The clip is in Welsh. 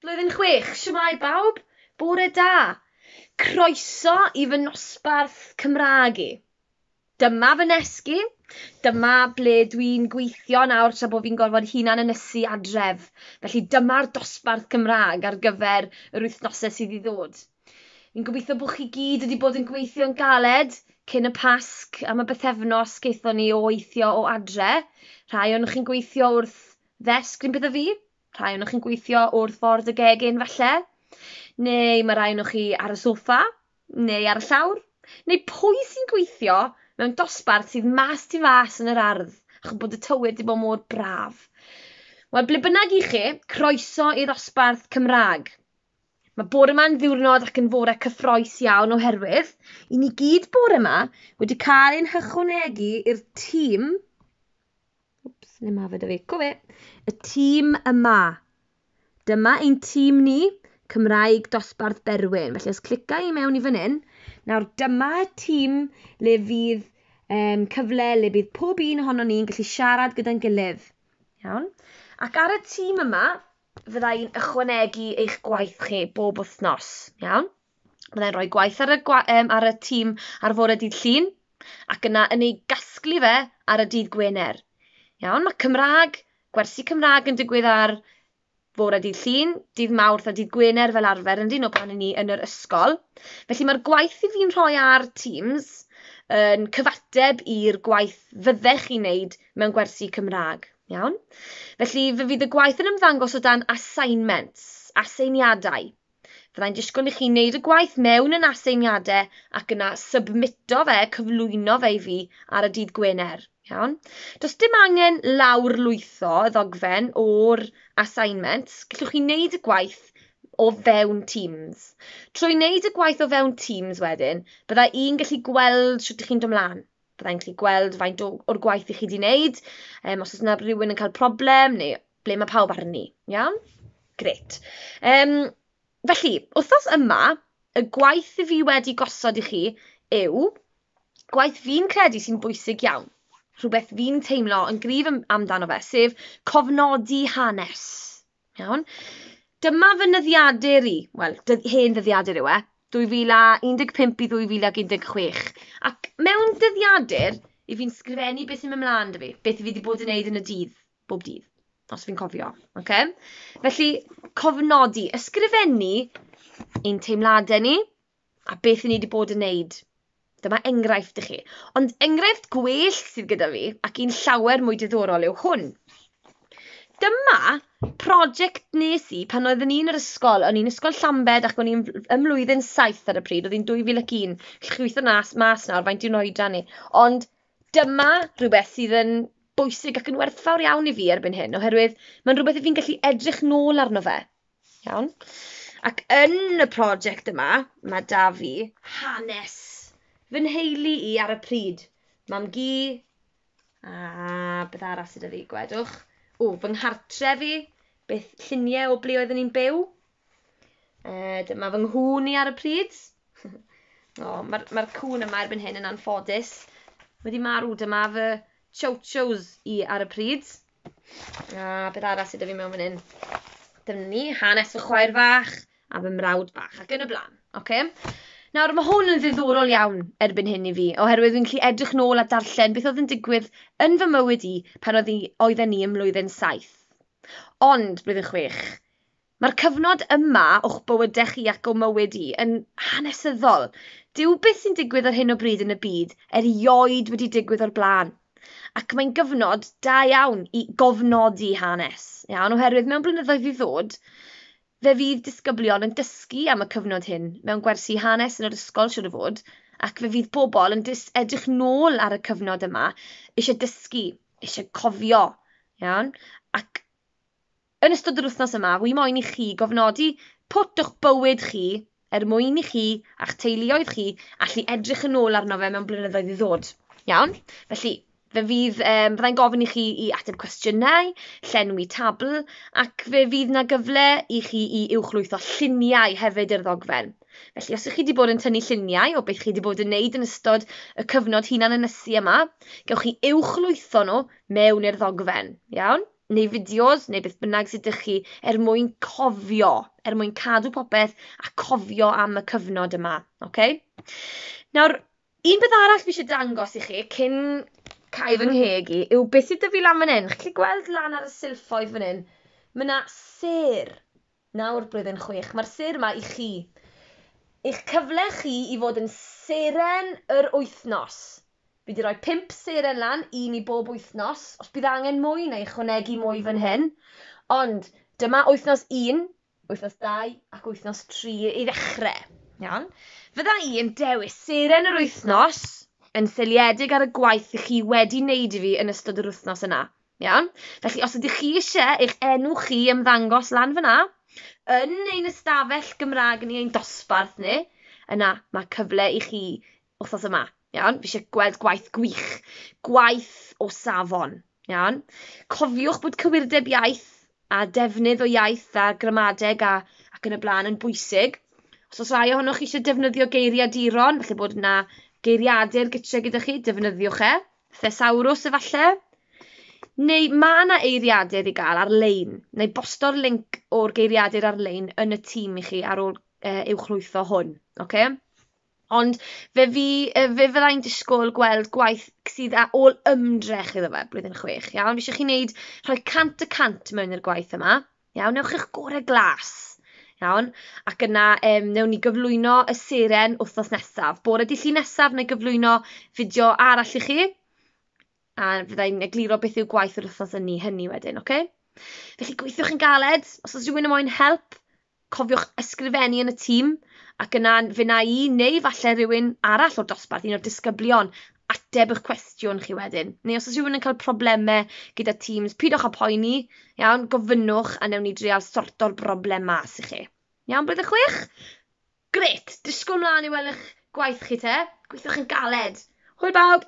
Blwyddyn chwech, shwmae bawb, bore da, croeso i fy nosbarth Cymraeg i. Dyma fy nesgi, dyma ble dwi'n gweithio nawr tra bo fi'n gorfod hunan ynysu adref, felly dyma'r dosbarth Cymraeg ar gyfer yr wythnose sydd i ddod. Fi'n gobeithio bo chi gyd wedi bod yn gweithio'n galed cyn y Pasg, am y bythefnos gaethon ni o weithio o adre, rhai ohonoch chi'n gweithio wrth Ddesg rhywbeth a fi? Rhai ohonoch chi'n gweithio wrth ffordd y gegin falle? Neu mae rhai ohonoch chi ar y soffa? Neu ar y llawr? Neu pwy sy'n gweithio mewn dosbarth sydd mas tu fas yn yr ardd ac yn bod y tywydd di bod mor braf? Wel, ble bynnag i chi, croeso i ddosbarth Cymraeg. Mae bore yma'n ddiwrnod ac yn fore cyffroes iawn oherwydd i ni gyd bore yma wedi cael ein hychwanegu i'r tîm Wps, neu ma fe da fi. Co fe! Y tîm yma. Dyma ein tîm ni, Cymraeg Dosbarth Berwyn. Felly os clica i mewn i fan hyn, nawr dyma tîm le fydd um, cyfle le bydd pob un ohono ni'n gallu siarad gyda'n gilydd. Iawn? Ac ar y tîm yma, fydda i'n ychwanegu eich gwaith chi bob wythnos. Iawn? Byddai'n rhoi gwaith ar y, gwa, um, ar y tîm ar fore dydd Llun ac yna yn ei gasglu fe ar y dydd Gwener. Iawn, mae Cymraeg, gwersi Cymraeg yn digwydd ar fore dydd Llun, dydd Mawrth a dydd Gwener fel arfer yn dyn o pan i ni yn yr ysgol. Felly mae'r gwaith i fi'n rhoi ar Teams yn cyfateb i'r gwaith fyddech chi'n neud mewn gwersi Cymraeg. Iawn? Felly fe fydd y gwaith yn ymddangos o dan assignments, aseiniadau. Fyddai'n disgwyl i chi wneud y gwaith mewn yn aseiniadau ac yna submito fe, cyflwyno fe i fi ar y dydd Gwener. Iawn? Does dim angen lawrlwytho y ddogfen o'r assignments, gallwch chi wneud y gwaith o fewn Teams. Trwy wneud y gwaith o fewn Teams wedyn, bydda i'n gallu gweld sut ydych chi'n dod mlaen. Bydda i'n gallu gweld faint o'r gwaith i chi wedi wneud, um, os oes yna rhywun yn cael problem neu ble mae pawb arni, iawn? Grêt. Um, felly, wythnos yma, y gwaith i fi wedi gosod i chi yw gwaith fi'n credu sy'n bwysig iawn. Rhywbeth fi'n teimlo yn gryf amdano fe, sef cofnodi hanes. Iawn? Dyma fy nyddiadur i, wel, hen ddyddiadur yw e, 2015 i 2016. Ac mewn dyddiadur, i fi'n sgrifennu beth sy'n mynd mlaen da fi, beth i fi wedi bod yn neud yn y dydd, bob dydd, os fi'n cofio, ocê? Felly, cofnodi, ysgrifennu ein teimladau ni a beth i ni wedi bod yn neud. Dyma enghraifft i chi. Ond enghraifft gwell sydd gyda fi, ac un llawer mwy diddorol yw hwn. Dyma prosiect nes i pan oeddwn i'n yr ysgol. O'n i'n ysgol Llambed ac o'n i'n ym mlwyddyn 7 ar y pryd. Oedd hi'n 2001. Chi'n gweithio nas mas nawr, faint yw'n oedran ni. Ond Dyma rywbeth sydd yn bwysig ac yn werthfawr iawn i fi erbyn hyn, oherwydd mae'n rywbeth 'y fi'n gallu edrych nôl arno fe, iawn? Ac yn y prosiect yma, mae 'da fi hanes fy nheulu i ar y pryd. Mam-gu, a beth arall sydd 'da fi, gwedwch? O, fy nghartre' fi, beth, lluniau o ble oedden ni'n byw, Uh, dyma fy nghŵn i ar y pryd. o, mae'r ma cŵn yma erbyn hyn yn anffodus. Wedi marw, dyma fy chow-chows i ar y pryd. A beth arall sydd fi mewn fan hyn? Dyna ni, hanes fy chwaer fach a fy mrawd bach ac yn y blaen. Okay? Nawr, mae hwn yn ddiddorol iawn erbyn hyn i fi, oherwydd fi'n gallu edrych nôl a darllen beth oedd yn digwydd yn fy mywyd i pan oedd i, oedden ni ym mlwyddyn 7. Ond, blwyddyn 6, Mae'r cyfnod yma o'ch bywydau chi ac o mywyd i yn hanesyddol. Dyw beth sy'n digwydd ar hyn o bryd yn y byd erioed wedi digwydd o'r blaen. Ac mae'n gyfnod da iawn i gofnodi hanes, iawn, oherwydd mewn blynyddoedd i ddod, fe fydd disgyblion yn dysgu am y cyfnod hyn mewn gwersi hanes yn yr ysgol siwr o fod, ac fe fydd pobl yn dyst edrych nôl ar y cyfnod yma, eisiau dysgu, eisiau cofio, iawn, ac Yn ystod yr wythnos yma, wi moyn i chi gofnodi pwt o'ch bywyd chi er mwyn i chi a'ch teuluoedd chi allu edrych yn ôl arno fe mewn blynyddoedd i ddod. Iawn? Felly, fe fydd, um, byddai'n gofyn i chi i ateb cwestiynau, llenwi tabl, ac fe fydd na gyfle i chi i uwchlwytho lluniau hefyd i'r ddogfen. Felly, os ych chi wedi bod yn tynnu lluniau o beth chi wedi bod yn neud yn ystod y cyfnod hunan ynysu yma, gewch chi uwchlwytho nhw mewn i'r ddogfen. Iawn? neu fideos, neu beth bynnag sydd ydych chi, er mwyn cofio, er mwyn cadw popeth a cofio am y cyfnod yma. Okay? Nawr, un beth arall fi eisiau dangos i chi cyn cael fy ngheg i yw beth sydd dyfu lan fan hyn. Chi'n gallu gweld lan ar y silffoedd fan hyn? Mae yna ser. Nawr, blwyddyn chwech, mae'r sêr yma i chi. Eich cyfle chi i fod yn seren yr wythnos. Fi 'di rhoi pump seren lan, un i bob wythnos. Os bydd angen mwy, na i ychwanegu mwy fan hyn. Ond, dyma wythnos un, wythnos dau ac wythnos tri i ddechrau. Iawn. Fydda i yn dewis seren yr wythnos yn seiliedig ar y gwaith i chi wedi neud i fi yn ystod yr wythnos yna. Iawn? Felly, os ydych chi eisiau eich enw chi ymddangos lan fyna, yn ein ystafell Gymraeg ni, ein dosbarth ni, yna mae cyfle i chi wythnos yma. Iawn? Fi eisiau gweld gwaith gwych, gwaith o safon. Iawn? Cofiwch bod cywirdeb iaith a defnydd o iaith a gramadeg a, ac yn y blaen yn bwysig. Os oes rai ohonoch chi eisiau defnyddio geiriaduron, felly bod yna geiriadur gytre gyda chi, defnyddiwch e. Thesawrws efalle? Neu ma' 'na eiriadur i gael ar-lein, neu bosto'r linc o'r geiriadur ar-lein yn y tîm i chi ar ôl uh, i'w chlwytho hwn, oce? Okay? Ond fe, fi, fe fydda i'n disgwyl gweld gwaith sydd â ôl ymdrech iddo fe, blwyddyn chwech, iawn? Fi eisiau chi wneud rhoi cant y cant mewn i'r gwaith yma, Iawn, ewch i'ch gore glas. Iawn, ac yna um, newn ni gyflwyno y seren wythnos nesaf. Bore di llun nesaf, neu gyflwyno fideo arall i chi. A fyddai'n egluro beth yw gwaith yr wythnos ynni hynny wedyn, oce? Okay? Felly gweithiwch yn galed, os oes rhywun yn moyn help, cofiwch ysgrifennu yn y tîm, ac yna fe na i, neu falle rhywun arall o'r dosbarth, un o'r disgyblion, ateb eich cwestiwn chi wedyn. Neu os oes rhywun yn cael problemau gyda Teams, pidwch â poeni, iawn, gofynnwch a newn ni dreal sorto'r broblem mas i chi. Iawn, blwyddyn chwech? Gret, disgwyl mlaen i weld eich gwaith chi te, gweithiwch yn galed. Hwyl bawb!